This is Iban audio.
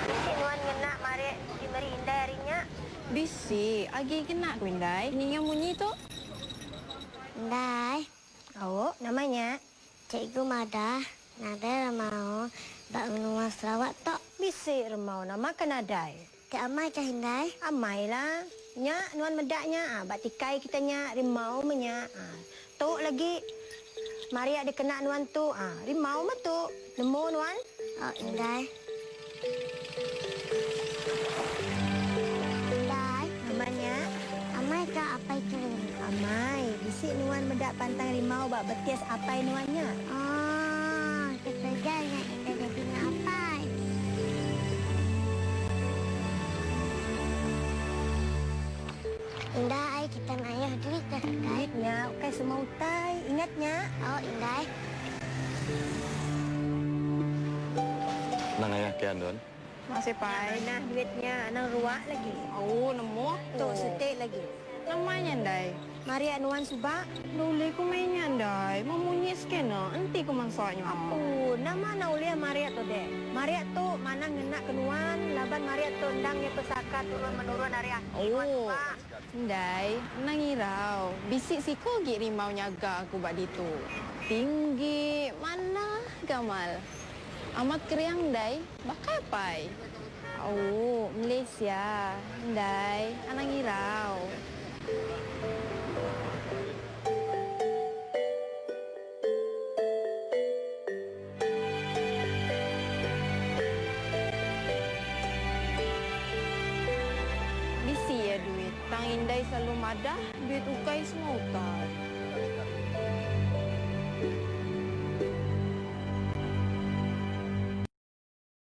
Bisi nuan ngena marik ti meri indai hari nya? Bisi agi ngena ku indai. Ninga munyi tu. Indai. Au, nama nya? Cikgu madah, nadai remau ba menua Sarawak tu. Bisi remau nama ke nadai. Te amai kah indai? Amai lah. Nya nuan meda nya ah ba tikai kita nya rimau meh nya ah. Tu lagi mari ah dikena nuan tu ah rimau meh tu. Nemu nuan? Oh indai. Indai. Nama nya? Amai kah apai kering? Amai. Bisi nuan meda pantang rimau ba betis apai nuan nya. Oh, ketegal nya indai. Dah jadi nya apai. Indah ai kita ngayuh duit dah indai. Duit nya ukai semua utai ingat nya. Au indai. Nang ayah ke andun. Masih pai nah duit nya anang ruak lagi. Au nemu aku. Tu setik lagi. Nama nya ndai. Maria nuan suba. Nda ulih ku meh inya ndai. Memunyi skena enti ku mansa nya. Apu nama nang ulih maria tu dek. Maria tu manah ngena ke nuan laban maria tu endang nya pesaka turun menurun ari aki nuan suba. Ndai anang irau. Bisi siko agi rimau nyaga aku ba ditu. Tinggi manah gamal. Amat geriang ndai, baka apai? Au, mlih sia. Ndai, anang irau. Bisi iya duit. Tang indai selalu madah duit ukai semua ukai.